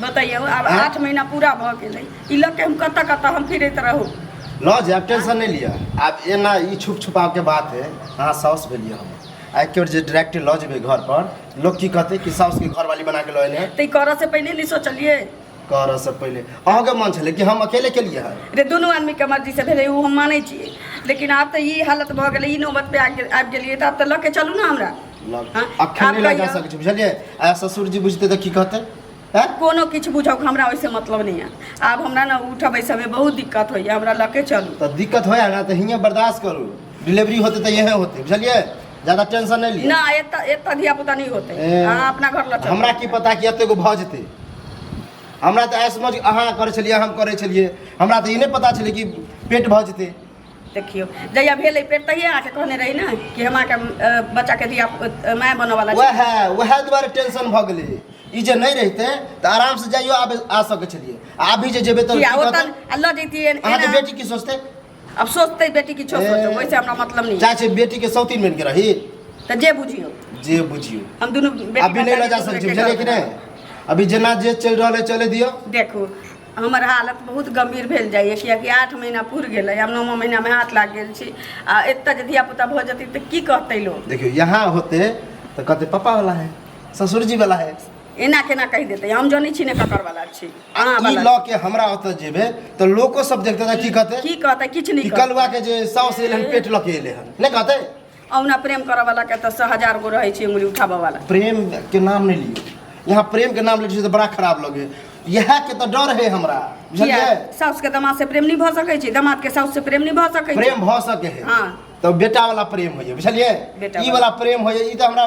बतैयौ आब आँय? आठ महीना पूरा भऽ गेलै ई लऽ के हम कतऽ कतऽ हम फिरैत रहू लऽ जायब टेंशन नहि लिअ आब एना ई छुप छुपावके बात है अहाँ साउस भेलियै हम आ एक बेर जे डायरेक्ट लऽ जेबै घर पर लोक की कहतै कि साउसके घरवाली बना के लऽ एलै तऽ ई करऽ से पहिले नहि सोचलियै करऽ से पहिले अहूँके मन छलै कि हम अकेले केलियै हँ रे दुनू आदमीके मर्जी से भेलै ओ हम मानै छियै लेकिन आब तऽ ई हालत भऽ गेलै ई नौबत पे आबि गेल- आबि गेलियै तऽ आब तऽ लऽ के चलू ने हमरा अखन लगा सकै छी बुझलियै आ ससुर जी बुझते तऽ की कहते हैं कोनो किछु बुझब हमरा ओइसे मतलब नहीं है आब हमरा ना उठा बैसा में बहुत दिक्कत होइए हमरा लके चलू तऽ दिक्कत होइए ना तऽ हियाँ बर्दाश्त करू डिलीवरी होते तऽ इहे होते बुझलियै ज्यादा टेंशन नहीं लिअ ना एत एत धिया पुता नहीं होते ए। अहाँ अपना घर लऽ चलू हमरा की पता कि एतेक भऽ जेतै हमरा तऽ ऐसमझ अहाँ करै छलियै हम करै छलियै हमरा तऽ ई नहि पता छलै कि पेट भऽ जेतै देखियो जहिया भेल है पेट तहिया आके कहने रही ना कि हम आके बच्चा के दिया माय बने वाला वह वह द्वारा टेंशन भ गेले ई जे नहीं रहते तो आराम से जाइयो आबे आ सके छलिए आ भी जे जेबे तो किया ओतन अल्लाह देती है अहाँ के बेटी की सोचते अब सोचते बेटी की छोड़ सोचते वैसे हमरा मतलब नहीं चाहे बेटी के सौतीन बन के रही तो जे बुझियो जे बुझियो हम दोनों बेटी अभी नहीं ले जा सके छी बुझले कि नहीं अभी जना जे चल रहा है चले दियो देखो हमर हालत बहुत गम्भीर भेल जाइए किएकि आठ महीना पुरि गेलै हम नौमा महीनामे हाथ लागि गेल छी आ एतऽ जे धियापुता भऽ जेतै तऽ की कहतै लोक देखियौ यहाँ होते तऽ कहते पापा वाला है ससुर जी वाला है एना केना कहि देतै हम जनै छी ने ककर वाला छी अहाँ ई वाला लऽ के हमरा ओतऽ जेबै तऽ लोको सब देखते तऽ की कहते की कहतै किछु नहि की कहतै। कलुआ के जे साउस एलै हन पेट लऽ के एलै हन नहि कहते औना प्रेम करे वाला के तो हजार गो रहे छे उंगली उठावे वाला प्रेम के नाम नहीं लियो यहाँ प्रेम के नाम ले छियै तऽ बड़ा खराब लगे इएह के तऽ डर है हमरा किया बुझलियै साउस के दामाद से प्रेम नहीं भ सके छी दामाद के साउस से प्रेम नहीं भ सके छी प्रेम भऽ सके है हाँ। तऽ बेटा वाला प्रेम होइए बुझलियै बेटा ई वाला प्रेम होइए ई तऽ हमरा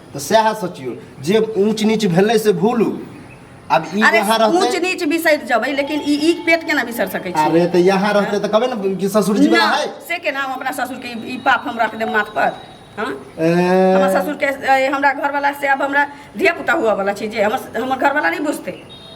तऽ सएह सोचियौ जे ऊँच नीच भेलै से भूलू आब ई अरे यहाँ ऊंच रहतै नीच बिसरि जबै लेकिन ई ई पेट केना बिसरि सकै छी अरे तऽ यहाँ रहतै तऽ कहबै ने कि ससुर जी ना, है से के नाम हमरा ससुर के ई- ई पाप हम रख देब माथ पर हाँ? हमरा ए, ससुर के ए, हमरा घरवाला से अब हमरा धिया पुता हुआ वाला छी जे हमर हमर घरवाला नहीं बुझते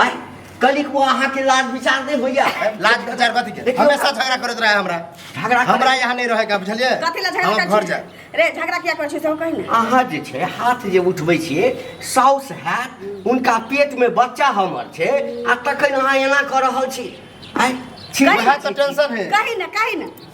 आय कली को अहाँ के लाज विचार नहीं होइया लाज विचार कथी के देखियो। हमेशा झगड़ा करत रहे हमरा झगड़ा करे- हमरा यहाँ नहीं रहे का बुझलिए कथी ला झगड़ा हम घर करै जाए छी रे झगड़ा किया करै छी से कहि ने अहाँ जे छै हाथ जे उठबै छियै साउस हैत उनका पेट में बच्चा हमर छै आ तखन अहाँ एना कऽ रहल छी आय छी कही- वएह तऽ टेंशन है कहि ने कहि ने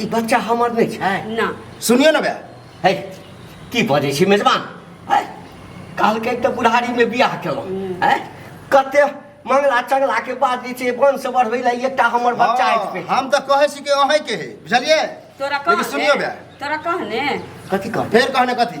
ई बच्चा हमर नहि छै ना सुनियो ने बे है की बजै छी मेजबान है कहलकै तऽ बुढ़ारीमे बियाह केलहुँ है कते मंगला चंगला के बाद जे छै वंश बढ़बै लए एकटा हमर बच्चा हँ, अछि हम तऽ कहै छी कि अहींके है बुझलियै तोरा लेकिन कहने सुनियो बे तोरा कहने कथी कहतै फेर कहने कथी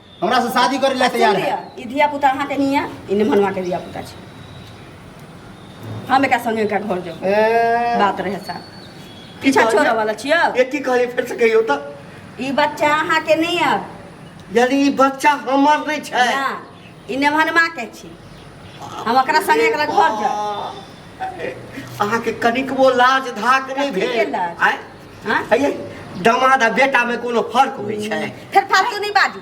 हमरा से शादी करे ला तैयार है ई धिया पुता अहाँ के नहीं है ई निमनवा के धिया पुता छै हम एका संगे एका घर जाऊ ए, बात रहे सा पीछा कहलियै? छोड़े वाला छियो ये की कहलियै फेर से कहियौ तऽ ई बच्चा अहाँ के नहीं है यानी ई बच्चा हमर नहि छै ना ई निमनवा के छी हम ओकरा संगे एकरा घर जाऊ अहाँके कनिकबो लाज धाक नहि ठीके भेल लाज। आँय? हाँ? अये दामाद आ बेटा में कोनो फर्क होइ छै फिर फालतू नहीं बाजू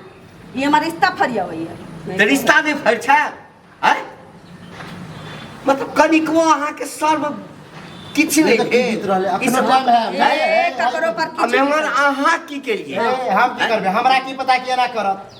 ये हमारा रिश्ता फरिया हुई है तऽ रिश्ता नहि फर्क छै आय मतलब कनिको अहाँके सर्व किछु नहि देखत की भेल। जीत रहलै, अखनो ई सब- टाइम है। ए, ककरो पर आ किछु मेहमान अहाँ की केलियै ए, हम की करबै हमरा की पता कि एना करत